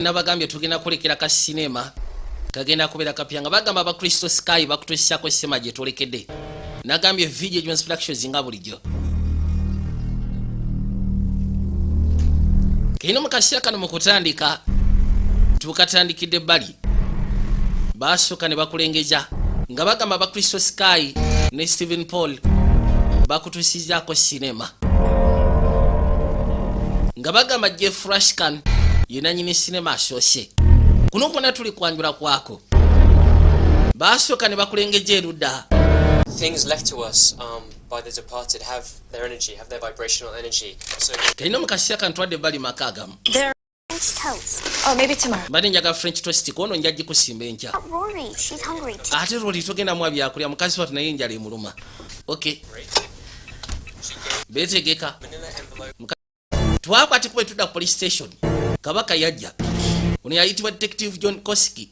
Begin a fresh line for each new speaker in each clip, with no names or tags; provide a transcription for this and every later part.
nabagambye tugenda kulekera ka sinema kagenda kubeera kapya nga bagamba aba kristo sky bakutusiako sima gye tulekedde nagambye video jones productions nga bulijjo kino mu kaseera kano mu kutandika tukatandikidde ebbali baasooka ne bakulengeza nga bagamba aba kristo sky ne stephen paul bakutusizaako sinema nga bagamba jeff rashkan yenanyini sinema asoose kuno kwona tuli kwanjula kwako basooka ne bakulengeja erudda kalina
um, mu kaseera
kantwadde bali maka agamu
mbadde njaga french toast
kuono nja gikusimba enkya
ate roli togenda mwa
byakulya mukazi watu naye enjala emuluma ok betegeka twakwati kuba etuda police station kabaka yajja ono yayitibwa detective john koski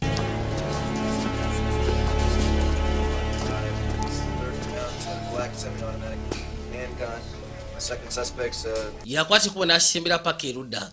yakwati kuba nasembera paka erudda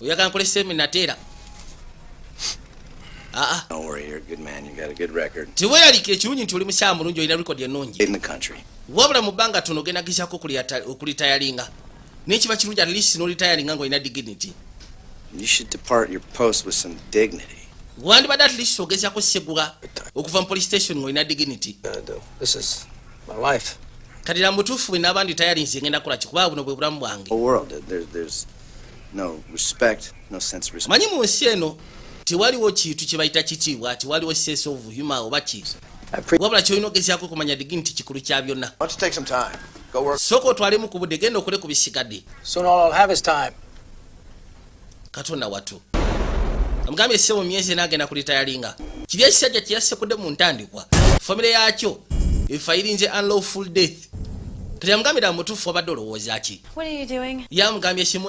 oyagala nkole semina teera
ah, ah. teweyalikira ekirungi nti oli
mukyala mulungi olina record ennungi
wabula mu bbanga tono
ogenda gizako okulitayalinga naye kiba kirungi at least nolitayalinga nga olina
dignity wandibadde at least
ogezako segula okuva mu police station nga olina dignity
My life. Kati na mutufu
we nabandi tayari nsi ngenda kula kikuba buno bwe bulamu bwange. Oh world there's
there's no respect, no sense of respect. Manyi mu nsi eno
tewaliwo kintu kye bayita kitiibwa, tewaliwo sense of humor oba ki. Wabula kyolina ogezaako kumanya digi nti kikulu kya byonna.
Sooka otwalemu ku budde,
genda okole ku bisigadde. Soon all I'll have is
time.
katonda watu amugambye se mu myezi ena agenda kulitayalinga kiri ekisajja kyeyasekudde mu ntandikwa famire yakyo efayirinze unlawful death kati yamugambira mutuufu
wabadde
olowooza ki yamugambye kimu